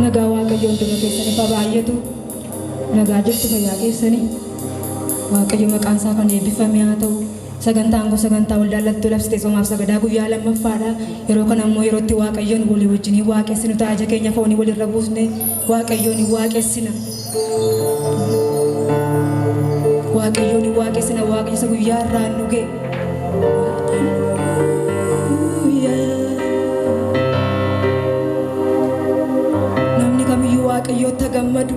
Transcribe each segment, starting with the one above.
nagaa waaqayyoon dura keessanii fa baay'atu nagaa jirtu fayyaa keessanii waaqayyo maqaan isaa kan eebbifame haa ta'u Sagantaan kun sagantaa waldaan laltuu labsite soomaaf sagadaa guyyaa lammaffaadha. Yeroo kana immoo yeroo itti Waaqayyoon walii wajjin hin waaqessinu ta'a. Ija keenya foonii walirra buusne Waaqayyoon hin waaqessina. Waaqayyoon hin waaqessina. Waaqayyo isa guyyaa irraan nu ga'e. Namni kamiyyuu Waaqayyootti haa gammadu.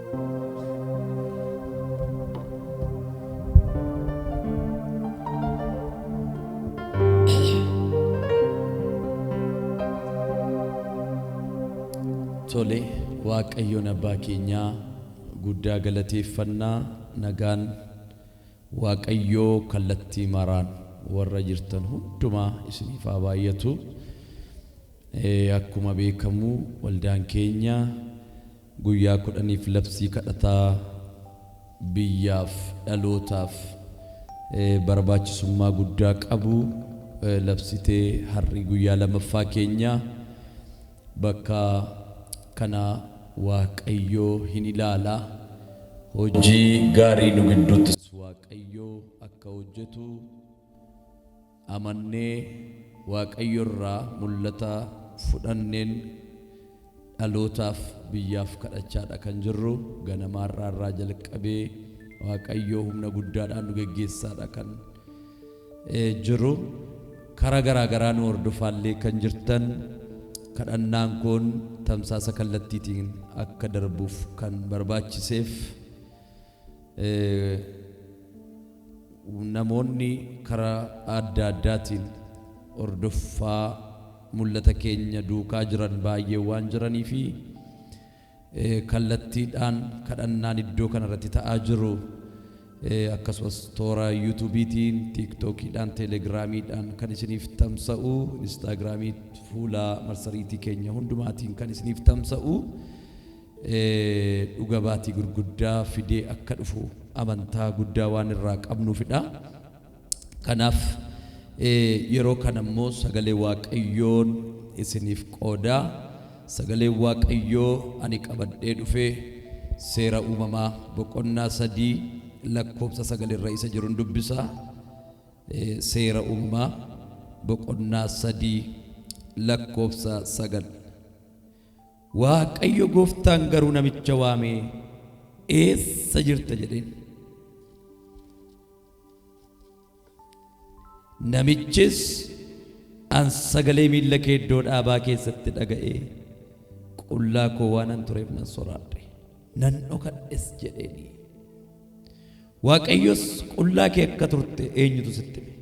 Tole Waaqayyoon Abbaa keenyaa guddaa galateeffannaa nagaan Waaqayyoo kallattii maraan warra jirtan hundumaa isiniif haa baay'atu. Eh, Akkuma beekamu waldaan keenya Guyyaa kudhaniif labsii kadhataa biyyaaf, dhalootaaf barbaachisummaa guddaa qabu labsitee har'i guyyaa lamaffaa keenya. Bakka kana Waaqayyo hin ilaala. Hojii gaarii nu gidduuttis Waaqayyo akka hojjetu. amannee Waaqayyo irraa mul'ata fudhanneen dhalootaaf, biyyaaf kadhachaa dha kan jirru. Ganamaa irraa irraa jalqabee Waaqayyo humna guddaadhaan nu geggeessaa dha kan jiru. Karaa garaa garaa nu hordofaa illee kan jirtan kadhannaan kun tamsaasa kallattiitiin akka darbuuf kan barbaachiseef, Namoonni karaa adda addaatiin hordoffaa mul'ata keenya duukaa jiran baay'een waan jiranii fi kallattiidhaan kadhannaan iddoo kana irratti ta'aa jiru akkasumas toora yuutuubiitiin, tiiktookiidhaan, teeleegiraamiidhaan kan isiniif tamsa'u, inistaagiraamii, fuula marsariitii keenya hundumaatiin kan isiniif tamsa'u dhuga baatii gurguddaa fidee akka dhufu amantaa guddaa waan irraa qabnuufidha. Kanaaf yeroo kana immoo sagalee Waaqayyoon isiniif qooda. Sagaleen Waaqayyoo ani qabadhee dhufe seera uumamaa boqonnaa 3 lakkoofsa 9 irra isa jirun dubbisa. Seera uumamaa boqonnaa 3 lakkoofsa 9. Waaqayyo gooftaan garuu namicha waamee, Eessa jirta? jedheen. Namichis, An sagalee miilla kee iddoo dhaabaa keessatti dhaga'ee, qullaa koo waanan tureef nan soraadhe, nan dhokadhes jedheenii. Waaqayyos qullaa kee akka turte eenyutu sitti hime?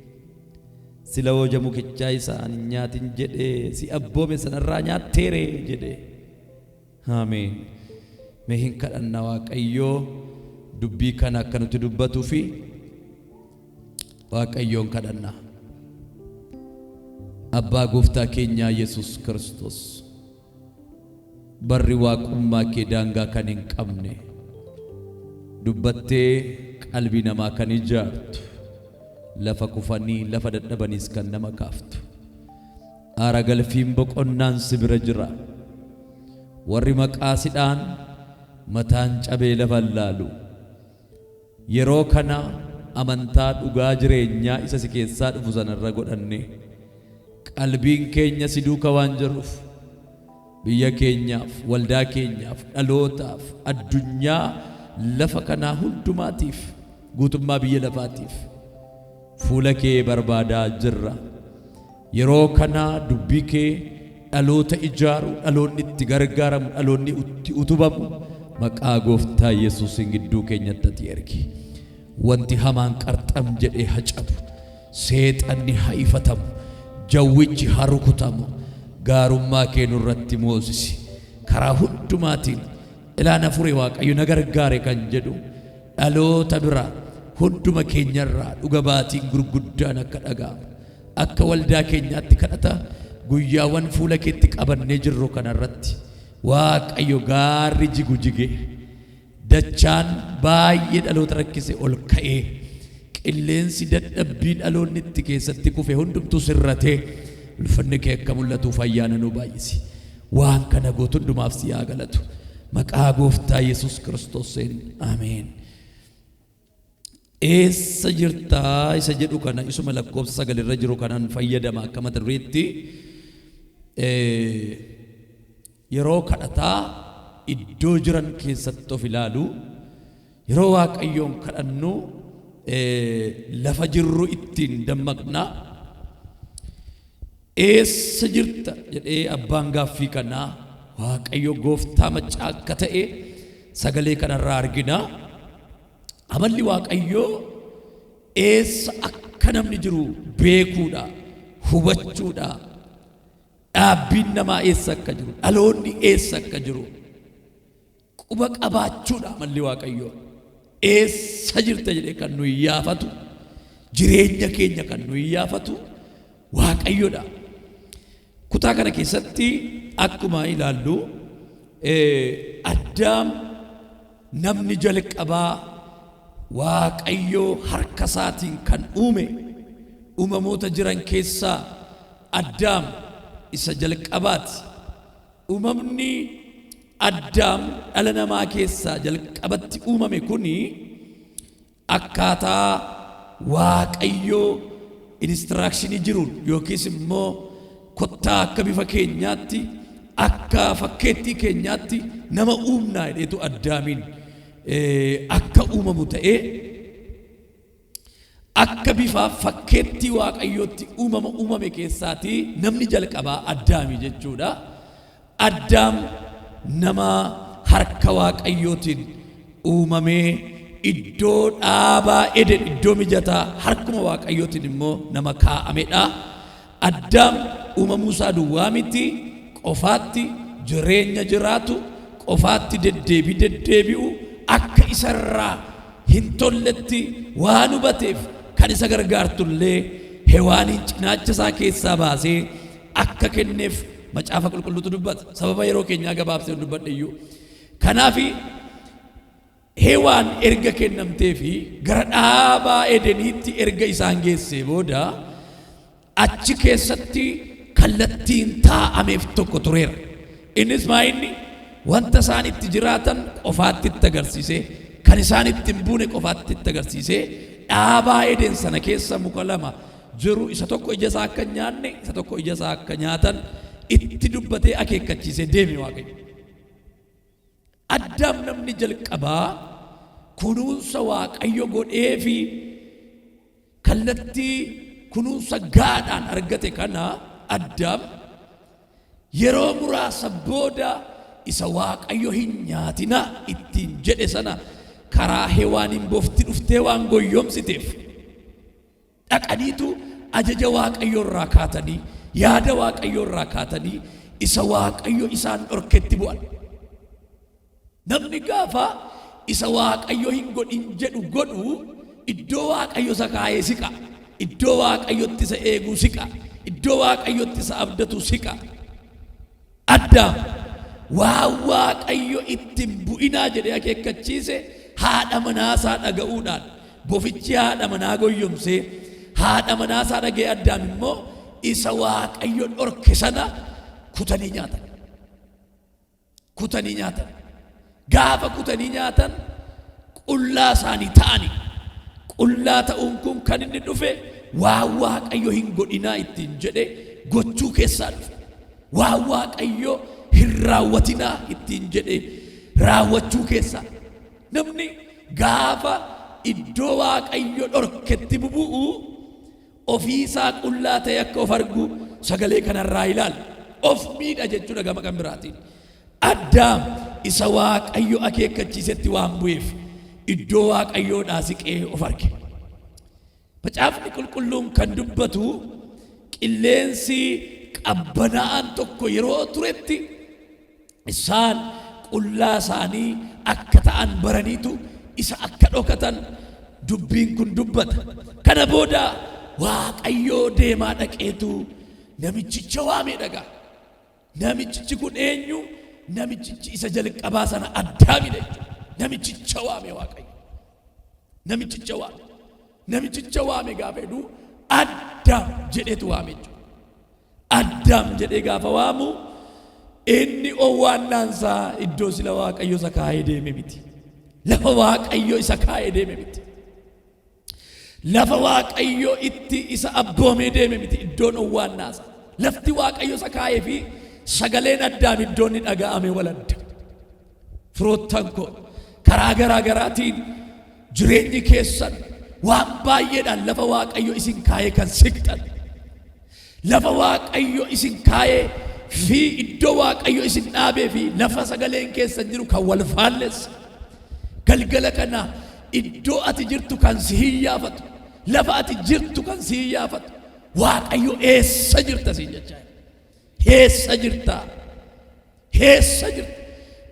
Sila hoja mukichaa isa ani hin nyaatin jedhee si abboome sana irraa nyaattee ree? jedhe. Ameen. Mee hin kadhanna Waaqayyoo dubbii kana akka nuti dubbatuu fi Waaqayyoon kadhanna. Abbaa gooftaa keenyaa Yesuus Kiristoos. Barri Waaqummaa kee daangaa kan hin qabne, dubbattee qalbii namaa kan ijaartu, lafa kufanii, lafa dadhabaniis kan nama kaaftu. Aara galfiin boqonnaan si bira jira. Warri maqaa si dha'an mataan cabee lafa hin laalu. Yeroo kana amantaa dhugaa jireenyaa isa si keessaa dhufu sana irra godhannee, qalbiin keenya si duuka waan jiruuf, biyya keenyaaf, waldaa keenyaaf, dhalootaaf, addunyaa lafa kanaa hundumaatiif, guutummaa biyya lafaatiif, Fuula kee barbaadaa jirra. Yeroo kana dubbii kee dhaloota ijaaru, dhaloonni itti gargaaramu, dhaloonni itti utubamu maqaa gooftaa Yesuusiin gidduu keenyatti ati ergi. Wanti hamaan qarxam jedhee ha cabu, seexanni ha ifatamu, jawwichi ha rukutamu, gaarummaa kee nurratti moosisi. Karaa hundumaatiin ilaan hafuuree Waaqayyo na gargaare kan jedhu Dhaloota biraa, hunduma keenya irraa dhuga baatiin gurguddaan akka dhaga'amu, akka waldaa keenyaatti kadhata guyyaawwan fuula keetti qabannee jirru kana irratti Waaqayyo gaarri jigu jigee, dachaan baay'ee dhaloota rakkise ol ka'ee, qilleensi dadhabbii dhaloonni itti keessatti kufe hundumtuu sirratee ulfinni kee akka mul'atuuf ayyaana nuu baay'isi. Waan kana gootu hundumaaf si haa galatu. Maqaa gooftaa Yesuus Kiristoosiin. Ameen. Eessa jirtaa isa jedhu kana isuma lakkoofsa sagal irra jiru kanan fayyadama akka mata dureetti yeroo kadhataa iddoo jiran keessatti of ilaalu yeroo waaqayyoon kadhannu lafa jirru ittiin dammaqna Eessa jirta? jedhee abbaan gaaffii kanaa Waaqayyo gooftaa maccaa akka ta'e sagalee kanarraa argina. Amalli Waaqayyoo eessa akka namni jiru beekuudha, hubachuudha. Dhaabbiin namaa eessa akka jiru, dhaloonni eessa akka jiru quba qabaachuudha amalli waaqayyoo. Eessa jirta jedhee kan nu iyyaafatu, jireenya keenya kan nu iyyaafatu waaqayyodha. Kutaa kana keessatti akkuma ilaallu addaam namni jalqabaa waaqayyoo harka isaatiin kan uume uumamoota jiran keessaa addaam isa jalqabaati. Uumamni Addaam dhala namaa keessaa jalqabatti uumame kun akkaataa Waaqayyo instruction jiruun yookiis immoo kottaa akka bifa keenyaatti akka fakkeettii keenyaatti nama uumnaa jedheetu Addaamiin akka uumamu ta'ee Akka bifa fakkeettii Waaqayyootti uumama uumame keessaatii namni jalqabaa Addaami jechuu dha. Addaam nama harka Waaqayyootiin uumamee iddoo dhaabaa Eden, iddoo mijataa harkuma Waaqayyootiin immoo nama kaa'ame dha. Addaam uumamuu isaa duwwaa miti, qofaatti jireenya jiraatu, qofaatti deddeebii deddeebi'u, akka isa irraa hin tolletti waan hubateef kan isa gargaartu illee Hewaaniin cinaacha isaa keessaa baasee akka kenneef Macaafa Qulqulluutu dubbata. Sababa yeroo keenyaa gabaabseen dubbadhe iyyuu. Kanaaf, Hewaan erga kennamtee fi gara dhaaba Edeniitti erga isaan geessee booda, achi keessatti kallattiin taa'ameef tokko tureera. Innis maa inni? Wanta isaan itti jiraatan qofaatti itti agarsiisee, kan isaan itti hin buune qofaatti itti agarsiisee, dhaaba Eden sana keessa muka lama jiru, isa tokko ija isaa akka hin nyaanne, isa tokko ija isaa akka nyaatan itti dubbatee akeekkachiisee deeme Waaqayyo. Addaam namni jalqabaa kunuunsa Waaqayyo godhee fi kallattii kunuunsa gaadhaan argate kana Addaam yeroo muraasa booda isa Waaqayyo hin nyaatinaa ittiin jedhe sana karaa Hewaaniin bofti dhuftee waan goyyomsiteef Dhaqaniitu ajaja Waaqayyoo irraa kaatanii, yaada Waaqayyoo irraa kaatanii isa Waaqayyo isaan dhorketti bu'an. Namni gaafa isa Waaqayyo hin godhin jedhu godhu iddoo Waaqayyo isa kaa'ee siqa. Iddoo Waaqayyotti isa eeguu siqa. Iddoo Waaqayyotti isa abdatu siqa. Addaam waan Waaqayyo itti hin bu'inaa jedhee akeekkachiise haadha manaa isaa dhaga'uudhaan bofichi haadha manaa goyyomsee, haadha manaa isaa dhaga'ee Addaam immoo isa Waaqayyo dhorke sana kutanii nyaatan. Kutanii nyaatan. Gaafa kutanii nyaatan qullaa isaanii ta'ani. Qullaa ta'uun kun kan inni dhufe waan Waaqayyo hin godhinaa ittiin jedhe gochuu keessaa dhufe. Waan Waaqayyo hin raawwatinaa ittiin jedhe raawwachuu keessaa. Namni gaafa iddoo Waaqayyo dhorketti bubu'u Ofii isaa qullaa ta'ee akka of argu sagalee kana irraa ilaallu. Of miidha jechuudha gama kan biraatiin. Addaam isa Waaqayyo akeekkachiisetti waan bu'eef iddoo Waaqayyoodhaa siqee of arge. Macaafni qulqulluun kan dubbatu qilleensi qabbanaa'aan tokko yeroo turetti Isaan qullaa isaanii akka ta'an baraniitu isa akka dhokatan dubbiin kun dubbata. Kana booda Waaqayyo deemaa dhaqeetu namichicha waamee dhagaa. Namichichi kun eenyu? Namichichi isa jalqabaa sana addaamidha jechuudha. Namichicha waame Waaqayyo. Namichicha waame. Namichicha waame gaafa jedhu Addaam jedheetu waame jechuudha. Addaam jedhee gaafa waamu inni owwaannaansaa iddoo sila waaqayyo isa kaa'ee deeme miti. Lafa waaqayyo isa kaa'ee deeme miti. Lafa waaqayyo itti isa abboomee deeme miti iddoon owwaannaasa. Lafti waaqayyo isa kaa'ee fi sagaleen addaam iddoon ni dhaga'ame wal adda. Firoottan koo karaa garaa garaatiin jireenyi keessan waan baay'eedhaan lafa Waaqayyo isin kaa'ee kan siqxan lafa Waaqayyo isin kaa'ee fi iddoo Waaqayyo isin dhaabee fi lafa sagaleen keessan jiru kan wal faallessa galgala kana iddoo ati jirtu kan si hiyyaafatu lafa ati jirtu kan si hiyyaafatu Waaqayyo eessa jirta siin jechaa jira. Heessa jirta? Heessa jirta?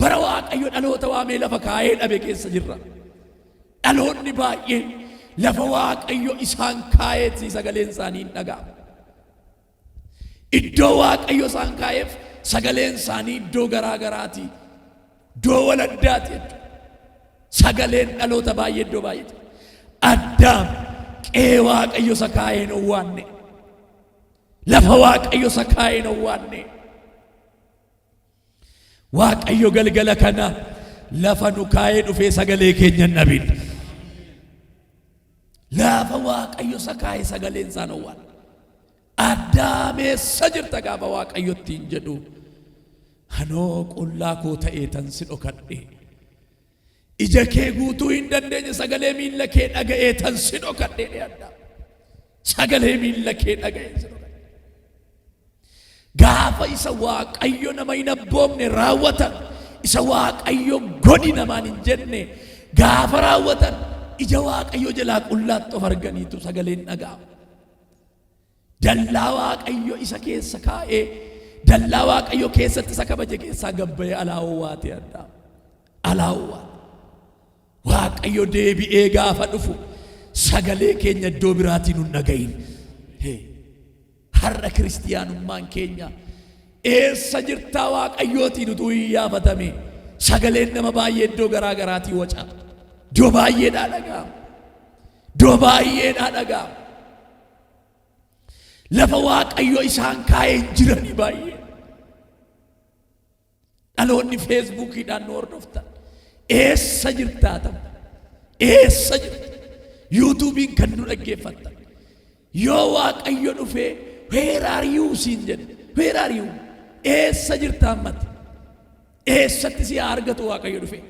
Bara Waaqayyo dhaloota waamee lafa kaa'ee dhabe keessa jirra. Dhaloonni baay'een lafa Waaqayyo isaan kaa'eetti sagaleen isaanii hin dhaga'amu. Iddoo Waaqayyo isaan kaa'eef sagaleen isaanii iddoo garaa garaati. Iddoo waladdaati jechuudha. Sagaleen dhaloota baay'ee iddoo baay'eeti. Addaam qe'ee Waaqayyo isa kaa'een owwaanne. Lafa Waaqayyo isa kaa'e hin owwaanne. Waaqayyo galgala kana lafa nu kaa'ee dhufee sagalee keenya hin dhabin. Lafa Waaqayyo isa kaa'e sagaleen isaa hin owwaanne. Addaameessa jirta gaafa Waaqayyo ittiin jedhu. Anoo qullaa koo ta'ee tan si dhokadhe. Ija kee guutuu hin dandeenye sagalee miilla kee dhaga'ee tan si dhokadhee dheeradha. Sagalee miilla kee dhaga'ee si dhokadhe. Gaafa isa waaqayyo nama hin abboomne raawwatan isa waaqayyo godhi namaan hin jenne gaafa raawwatan ija waaqayyo jalaa qullaatti of arganiitu sagaleen dhaga'ama. Dallaa Waaqayyo isa keessa kaa'ee, dallaa Waaqayyo keessatti isa kabaje keessaa gad ba'ee alaa owwaatee addaa. Alaa owwaate. Waaqayyo deebi'ee gaafa dhufu sagalee keenya iddoo biraatiin hin dhagahin. Hee. Har'a kiristiyaanummaan keenya eessa jirtaa Waaqayyootiin utuu hin yaafatame sagaleen nama baay'ee iddoo garaa garaatii waca. Iddoo baay'eedhaa dhaga'ama. Iddoo baay'eedhaa dhaga'ama. Lafa Waaqayyo isaan kaa'ee hin jiranii baay'ee. Dhaloonni feesbuukiidhaan nu hordoftan. Eessa jirtaa ta'u? Eessa jirta? Yuutuubiin kan nu dhaggeeffattan. Yoo Waaqayyo dhufee weeraariyuu siin jedhe. Weeraariyuu eessa jirta ammati? Eessatti si haa argatu Waaqayyo dhufee?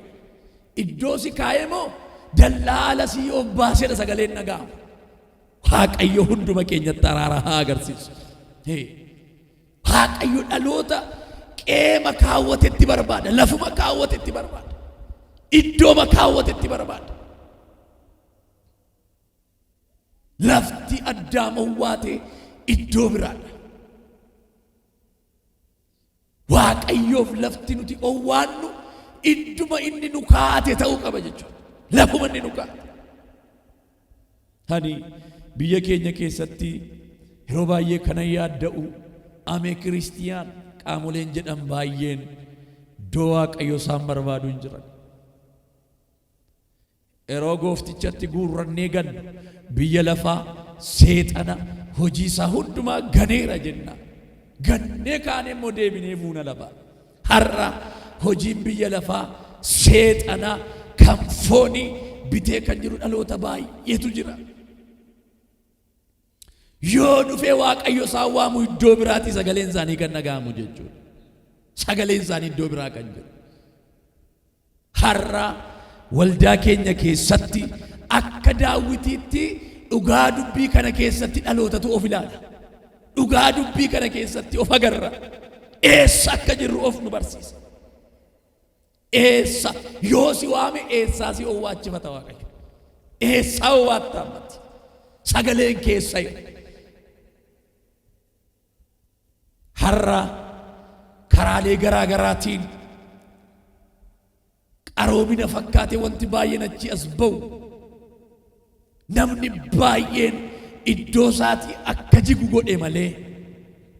Iddoo si kaa'ee moo dallaa ala si obbaasee dha sagaleen dhaga'ama? Waaqayyo hunduma keenyatti araara haa agarsiisu. Hee. Waaqayyo dhaloota qeema kaawwatetti barbaada, lafuma kaawwatetti barbaada, iddooma kaawwatetti barbaada. Lafti addaamawwaa ta'e iddoo biraadha. Waaqayyoof lafti nuti owwaannu idduma inni nu kaa'ate ta'uu qaba jechuudha. Lafuma inni nu kaa'ate. Ani biyya keenya keessatti yeroo baay'ee kanan yaadda'u amee kiristiyaan qaamoleen jedhan baay'een iddoo waaqayyoo isaan barbaadu hin jiran. Yeroo Gooftichatti guurrannee gannu, biyya lafaa, Seexana, hojii isaa hundumaa ganeera jenna. Gannee kaanee immoo deebinee fuuna laba. Har'a hojiin biyya lafaa, Seexanaa, kan foonii bitee kan jiru dhaloota baay'eetu jira. Yoo dhufee Waaqayyo isaan waamu iddoo biraatii sagaleen isaanii kan dhaga'amu jechuudha. Sagaleen isaanii iddoo biraa kan jiru. Har'a waldaa keenya keessatti akka daawwitiitti dhugaa dubbii kana keessatti dhalootatu of ilaala. Dhugaa dubbii kana keessatti of agarra. Eessa akka jirru of nu barsiisa. Eessa yoo si waame eessaa si owwaachifata Waaqayyo? Eessaa owwaatta ammatti? Sagaleen keessa hin. Har'a karaalee garaa garaatiin qaroomina fakkaate wanti baay'een achi as ba'u. Namni baay'een iddoo isaatii akka jigu godhe malee,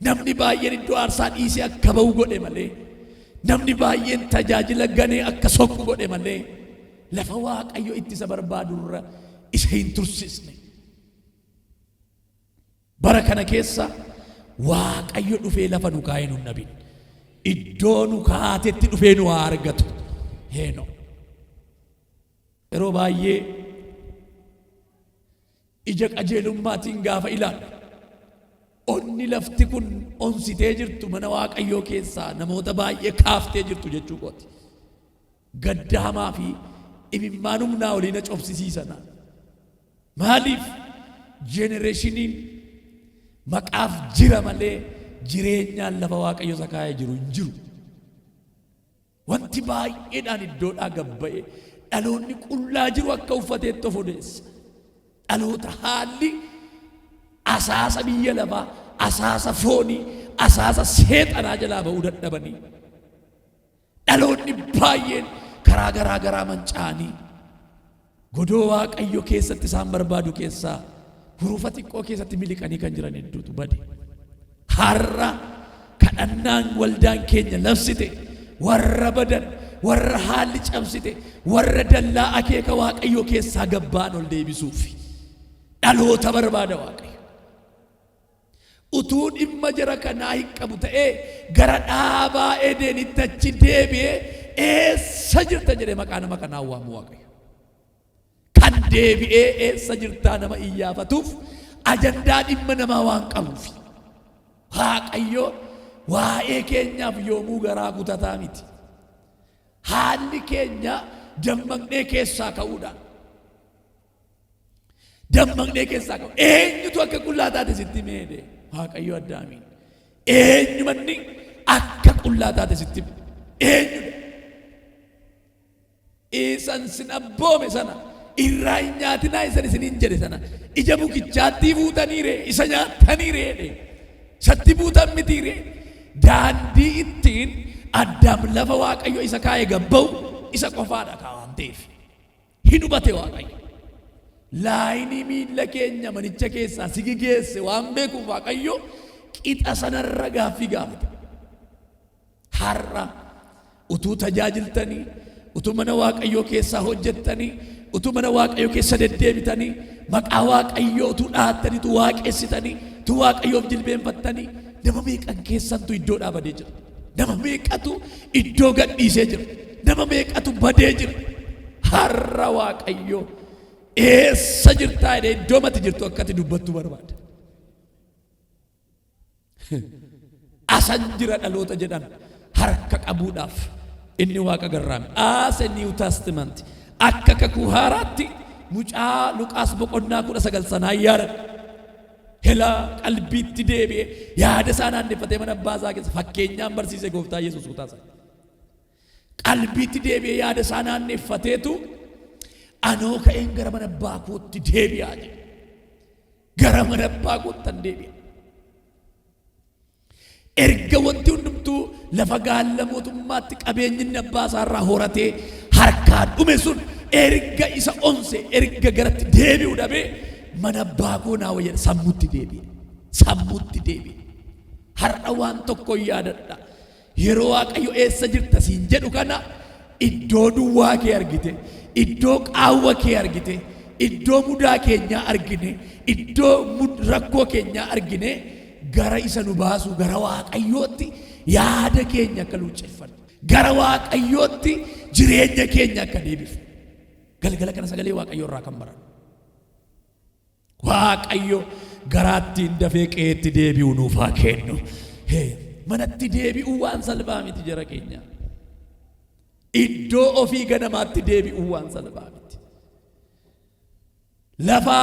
namni baay'een iddoo aarsaa dhiisee akka ba'u godhe malee, namni baay'een tajaajila ganee akka soqu godhe malee, lafa Waaqayyo itti isa barbaadurra isa hin tursiisne. Bara kana keessa Waaqayyo dhufee lafa nu kaa'ee nu hin dhabin. Iddoo nu kaa'atetti dhufee nu haa argatu. Heenoo. Yeroo baay'ee ija qajeelummaatiin gaafa ilaallu onni lafti kun onsitee jirtu mana Waaqayyoo keessaa namoota baay'ee kaaftee jirtu jechuu kooti. Gadda hamaa fi imimmaan humnaa olii na cobsisiisana. Maaliif jenereeshiniin maqaaf jira malee jireenyaan lafa Waaqayyo isa kaa'ee jiru hin jiru. Wanti baay'eedhaan iddoodhaa gad ba'e dhaloonni qullaa jiru akka uffateetti of odeessa. Dhaloota haalli asaasa biyya lafaa, asaasa foonii, asaasa seexanaa jalaa ba'uu dadhabanii. Dhaloonni baay'een karaa garaa garaa manca'anii. Godoo Waaqayyo keessatti isaan barbaadu keessaa hurufa xiqqoo keessatti miliqanii kan jiran hedduutu bade. Har'a kadhannaan waldaan keenya labsite warra badan, warra haalli cabsite, warra dallaa akeeka Waaqayyoo keessaa gabbaan ol deebisuufi. Dhaloota barbaada Waaqayyo. Utuu dhimma jara kanaa hin qabu ta'ee gara dhaabaa Edeenitti achi deebi'ee eessa jirta jedhee maqaa nama kanaa hin waamu Waaqayyo. Kan deebi'ee eessa jirtaa nama iyyaafatuuf ajandaa dhimma namaa waan qabuufi. Waaqayyo waa'ee keenyaaf yoomuu garaa kutataa miti. Haalli keenya dammaqnee keessaa ka'uudhaan. Dammaqnee keessaa qabu. Eenyutu akka qullaa taate sitti meede? Waaqayyo Addaamiin. Eenyumanni akka qullaa taate sitti hime? Eenyudha? Isan sin abboome sana irraa hin nyaatinaa isan isiniin jedhe sana ija mukichaattii fuutaniire isa nyaattaniire jedhe. Isatti buutan mitiire. Daandii ittiin Addaam lafa Waaqayyo isa kaa'e gabba'u isa qofaadha kaa waan ta'eef. Hi dubate Waaqayyo. Laayinii miilla keenya manicha keessaa si geesse waan beekuuf Waaqayyo qixa sanarra gaaffii gaafate. Har'a utuu tajaajiltanii, utuu mana Waaqayyoo keessaa hojjettanii, utuu mana Waaqayyoo keessa deddeebitanii, maqaa Waaqayyoo utuu dhaattanii, utuu waaqessitanii, utuu Waaqayyoof jilbeenfattanii, nama meeqan keessantu iddoo dhaabadee jira. Nama meeqatu iddoo gadhiisee jira. Nama meeqatu badee jira. Har'a Waaqayyoo eessa jirtaa jedhee iddoo mati jirtu akkati dubbattu barbaada. Asan jira dhaloota jedhan harka qabuudhaaf inni waaqa garraame. Aase Niiw Taastimanti akka kakuu haaraatti mucaa Luqaas boqonnaa kudha sagal sanaa yaadadha. Helaa qalbiitti deebi'ee yaada isaa naanneffatee mana abbaa isaa keessa fakkeenyaan barsiise gooftaa Yesuus kutaa isaa. Qalbiitti deebi'ee yaada isaa naanneffateetu anoo ka'een gara mana abbaa kootti deebi'aa jedhe. Gara mana abbaa koottan deebi'a. Erga wanti hundumtuu lafa gaalla mootummaatti qabeenyi inni abbaa isaa irraa horatee harkaa dhume sun erga isa onse erga garatti deebi'u dhabee mana abbaa koo naa wayya sammutti deebi'e sammutti deebi'e har'a waan tokko yaadadha yeroo waaqayyo eessa jirta siin jedhu kana iddoo duwwaa kee argite iddoo qaawwa kee argite iddoo mudaa keenyaa argine iddoo mud- rakkoo keenyaa argine Gara isa nu baasu gara Waaqayyootti yaada keenya akka luucceffannu, gara Waaqayyootti jireenya keenya akka deebifnu galgala kana sagalee Waaqayyoo irraa kan barannu. Waaqayyo garaattiin dafee qe'eetti deebi'u nuuf haa kennu. Hee, Manatti deebi'uu waan salphaa miti jara keenya. Iddoo ofii ganamaatti deebi'uu waan salphaa miti. Lafa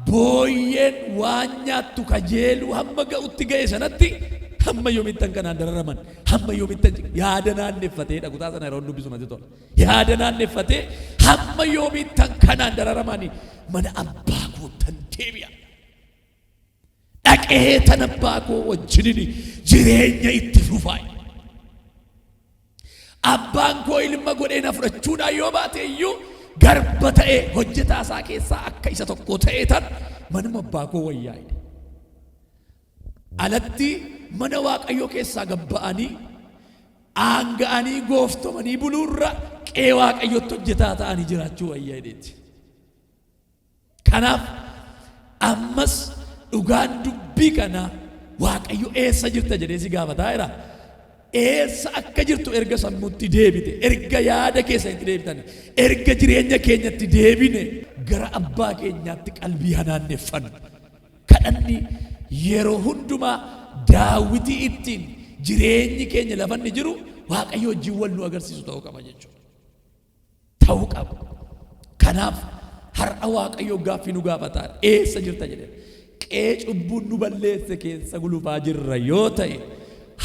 booyyeen waan nyaattu kajeeluu hamma ga'utti ga'e sanatti hamma yoomittan kanaan dararaman hamma yoomittan yaada naanneffatee dha kutaa sana yeroon dubbisu natti tola yaada naanneffatee hamma yoomittan kanaan dararamanii mana abbaa koottan deebi'a dhaqee tan abbaa koo wajjinin jireenya itti fufaa Abbaan koo ilma godhee na fudhachuudhaan yoo baate iyyuu, garba ta'ee hojjetaa isaa keessaa akka isa tokkoo ta'eetan manuma abbaa koo wayyaa jedhe. Alatti mana Waaqayyoo keessaa gad ba'anii aanga'anii gooftomanii buluurra qe'ee Waaqayyootti hojjetaa ta'anii jiraachuu wayya jedheeti. Kanaaf ammas dhugaan dubbii kanaa Waaqayyo eessa jirta jedhee si gaafataa jira. Eessa akka jirtu erga sammuutti deebite, erga yaada keessanitti deebitani, erga jireenya keenyatti deebine gara abbaa keenyaatti qalbii hanaanneffannu. Kadhanni yeroo hundumaa daawwitii ittiin jireenyi keenya lafa inni jiru Waaqayyo wajjin wal nu agarsiisu ta'uu qaba jechuudha. ta'uu qaba. Kanaaf har'a Waaqayyo gaaffii nu gaafata. Eessa jirta jedhee. Qe'ee cubbuun nu balleesse keessa gulufaa jirra yoo ta'e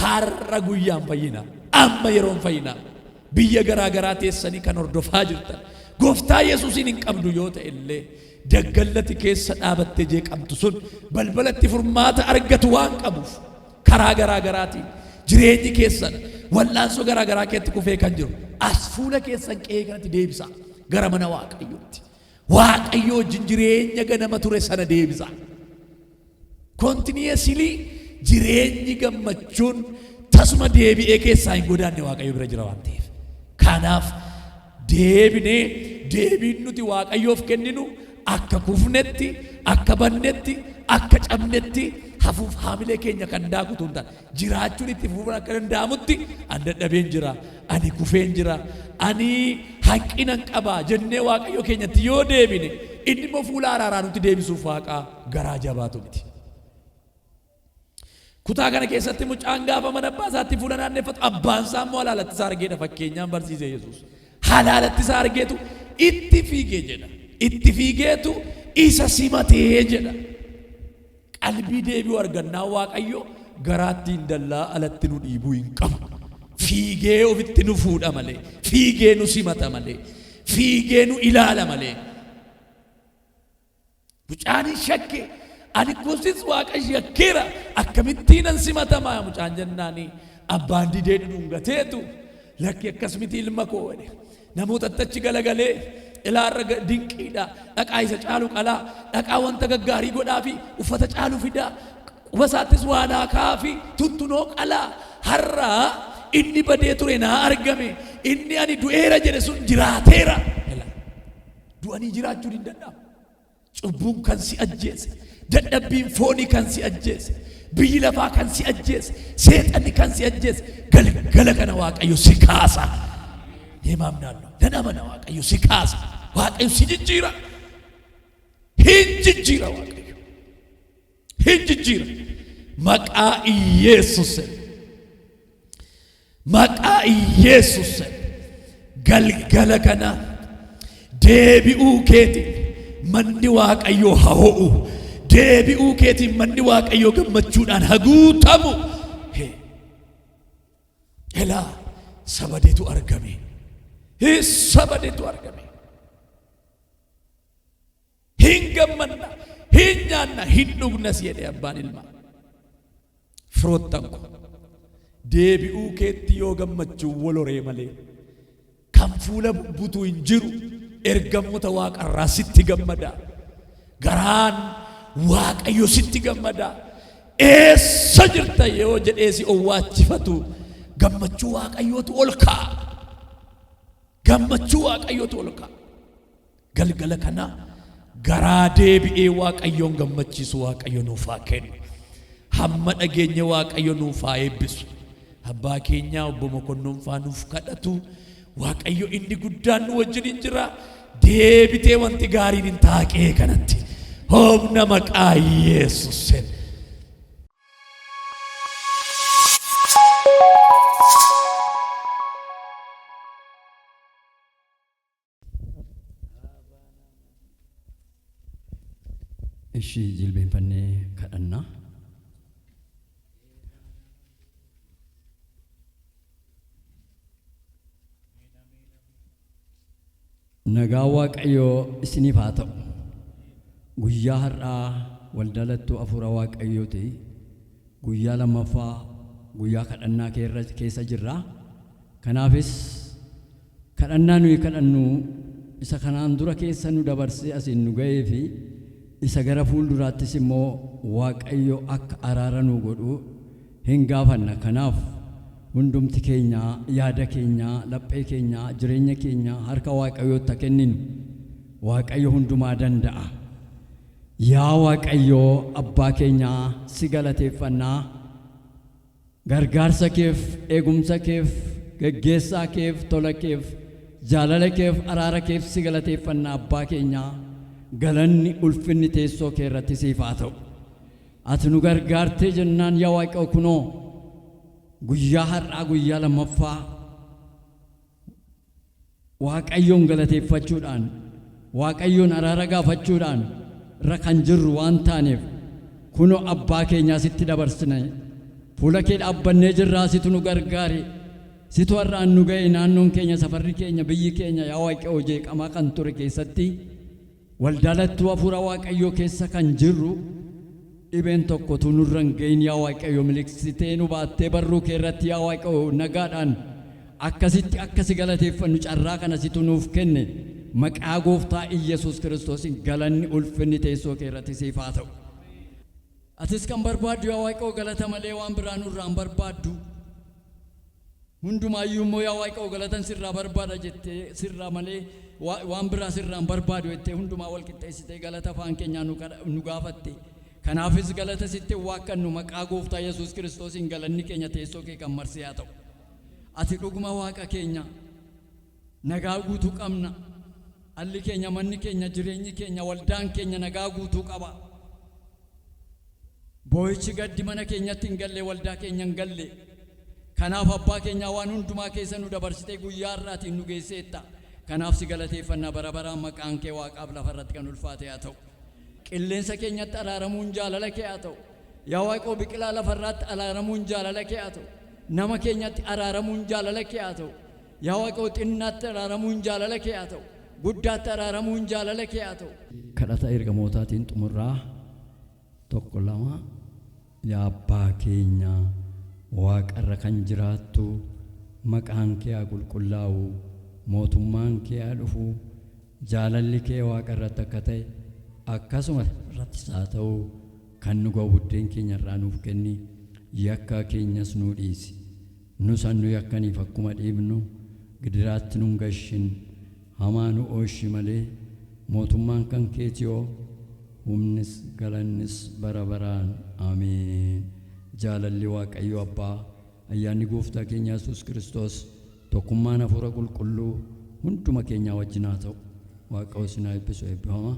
har'a guyyaan fayyina. Amma yeroon fayyina. Biyya garaa garaa teessanii kan hordofaa jirtan gooftaa Yesuusiin hin qabdu yoo ta'e illee daggallati keessa dhaabattee jeeqamtu sun balbalatti furmaata argatu waan qabuuf Karaa garaa garaatiin jireenyi keessan wal'aansoo garaa garaa keetti kufee kan jiru as fuula keessan qe'ee kanatti deebisaa gara mana waaqayyootti. Waaqayyoo wajjin jireenya ganama ture sana deebisaa. Kontineesilii jireenyi gammachuun tasuma deebi'ee keessaa hin godaanne waaqayyo bira jira waan ta'eef. Kanaaf Deebinee deebiin nuti Waaqayyoof kenninu akka kufnetti, akka badnetti, akka cabnetti hafuuf haamilee keenya kan daaku utuu hin taane, jiraachuun itti fufuun akka danda'amutti an dadhabeen jira, ani kufeen jira, ani hanqinan qaba jennee Waaqayyo keenyatti yoo deebine, inni immoo fuula araaraa nutti deebisuuf Waaqa garaa jabaatu miti. Kutaa kana keessatti mucaan gaafa mana abbaa isaatti fuula naanneffatu abbaan isaa immoo halaalatti isaa argeedha fakkeenyaan barsiise Yesuus. Halaalatti isaa argeetu itti fiige jedha. Itti fiigeetu isa simatee jedha. Qalbii deebi'u argannaa Waaqayyo garaatti hin dallaa alatti nu dhiibuu hin qabu. Fiigee ofitti nu fuudha malee, fiigee nu simata malee, fiigee nu ilaala malee. Mucaanis shakke. Ani koosis waaqa shakkeera. Akkamittiinan simatama mucaan jennaani abbaan didee dhudhungateetu lakki akkas miti ilma koo jedhe. Namootatti achi galagalee ilaa irra dinqiidha. Dhaqaa isa caalu qalaa. Dhaqaa wanta gaggaarii godhaafi uffata caalu fidaa. Quba isaattis waa naa kaa'aafi tuttunoo qalaa. Har'a inni badee ture naa argame. Inni ani du'eera jedhe sun jiraateera. Du'anii jiraachuu diddadhaa? Cubbuun kan si ajjeese, dadhabbiin foonii kan si ajjeese, biyyi lafaa kan si ajjeese, seexanni kan si ajjeese, galgala kana Waaqayyo si kaasa. Deemaam naannoo. Nan amana Waaqayyo si kaasa. Waaqayyo si jijjiira. Hin jijjiira Waaqayyo. hin jijjiira maqaa iyyeessusen maqaa iyyeessusen galgala kana deebi'uu keeti manni waaqayyoo ha ho'u deebi'uu keetiin manni waaqayyoo gammachuudhaan ha guutamu Hee. elaa sabadeetu argame Hee, sabadeetu argame Hin gammanna, hin nyaanna, hin dhugnas jedhe abbaan ilmaa. Firoottan koo! Deebi'uu keetti yoo gammachuun wal horee malee kan fuula bubbutu hin jiru, ergamoota Waaqarraa sitti gammada. Garaan Waaqayyo sitti gammada. Eessa jirta yoo jedhee si owwaachifatu gammachuu Waaqayyootu ol ka'a. Gammachuu Waaqayyootu ol ka'a. Galgala kana garaa deebi'ee Waaqayyoon gammachiisu Waaqayyo nuuf haa kennu. Hamma dhageenye Waaqayyo nuuf haa eebbisu. Abbaa keenyaa obbo Mokonnon faa nuuf kadhatu. Waaqayyo inni guddaan nu wajjin hin jira. Deebitee wanti gaariin hin taaqee kanatti. Hoomna maqaa Yesuusin. Ishii jilbeenfannee kadhannaa. Nagaa Waaqayyoo isiniif haa ta'u. Guyyaa har'aa waldalattuu hafuura Waaqayyooti. Guyyaa lammaffaa guyyaa kadhannaa keessa jirra. Kanaafis Kadhannaa nuyi kadhannu isa kanaan dura keessa nu dabarsee asiin nu ga'ee fi isa gara fuulduraattis immoo Waaqayyo akka araara nuu godhu hin gaafanna. Kanaaf hundumti keenya yaada keenya, laphee keenya, jireenya keenya harka Waaqayyootti ha kenninu. Waaqayyo hundumaa danda'a. Yaa Waaqayyo abbaa keenya si galateeffanna. Gargaarsa keef, eegumsa keef, geggeessaa keef, tola keef, jaalala keef, araara keef si galateeffanna Abbaa keenyaa, galanni, ulfinni teessoo kee irratti siif haa ta'u. Ati nu gargaartee jennaan yaa Waaqayyo kunoo guyyaa har'aa guyyaa lammaffaa, Waaqayyoon galateeffachuudhaan, Waaqayyoon araara gaafachuudhaan irra kan jirru waan taaneef, kunoo abbaa keenyaa sitti dabarsine, fuula kee dhaabbannee jirraa situ nu gargaari, situ har'aan nu ga'e, naannoon keenya, safarri keenya, biyyi keenya yaa Waaqayyoo jeeqamaa kan ture keessatti, Waldaalattuu Hafuura Waaqayyoo keessa kan jirru dhibeen tokko utuu nurra hin ga'iin yaa Waaqayyo miliqsitee nu baattee barruu kee irratti yaa Waaqayyo nagaadhaan akkasitti akka si galateeffannu carraa kana situ nuuf kenne maqaa gooftaa Iyyasuus Kiristoosiin galanni ulfinni teessoo kee irratti siif haa ta'u. Atis kan barbaaddu yaa Waaqayyo galata malee waan biraa nurraa hin barbaaddu. Hundumaa iyyuu immoo yaa Waaqoo galatan sirraa barbaada jettee sirraa malee waan biraa sirraa hin barbaadu jettee hundumaa wal qixxeessitee galata afaan keenyaa nu gaafatte. Kanaafis galata sitti hin waakkadnu maqaa gooftaa Yesuus Kiristoosiin galanni keenya teessoo kee kan marsee haa ta'u. Ati dhuguma Waaqa keenya. Nagaa guutuu qabna. Dhalli keenya, manni keenya, jireenyi keenya, waldaan keenya nagaa guutuu qaba. Boo'ichi, gaddi mana keenyatti hin galle, waldaa keenya hin galle. Kanaaf Abbaa keenyaa waan hundumaa keessa nu dabarsitee guyyaa har'aatiin nu geesseetta. Kanaaf si galateeffanna bara baraan maqaan kee waaqaaf lafa irratti kan ulfaate haa ta'u. Qilleensa keenyatti araaramuun jaalala kee haa ta'u. Yaa Waaqoo biqilaa lafa irraatti araaramuun jaalala kee haa ta'u. Nama keenyatti araaramuun jaalala kee haa ta'u. Yaa Waaqoo xinnaatti araaramuun jaalala kee haa ta'u. Guddaatti araaramuun jaalala kee haa ta'u. Kadhata Ergamootaatiin xumurraa 1 2 Yaa Abbaa keenya waaqarra kan jiraattu maqaan kee haa qulqullaa'u, mootummaan kee haa dhufu, jaalalli kee waaqarratti akka ta'e akkasuma irrattis haa ta'u, kan nu ga'u buddeen keenya irraa nuuf kenni, yakka keenyas nuu dhiisi. Nus an nu yakkaniif akkuma dhiibnu gidiraatti nun gashin, hamaa nu ooshi malee, mootummaan kan keeti oo, humnis galannis bara baraan. Ameen. Jaalalli Waaqayyo Abbaa, ayyaanni Gooftaa keenya Yesuus Kiristoos, tokkummaan Hafuura Qulqulluu hunduma keenyaa wajjin haa ta'u. Waaqao isin haa eebbisu eebbifamaa.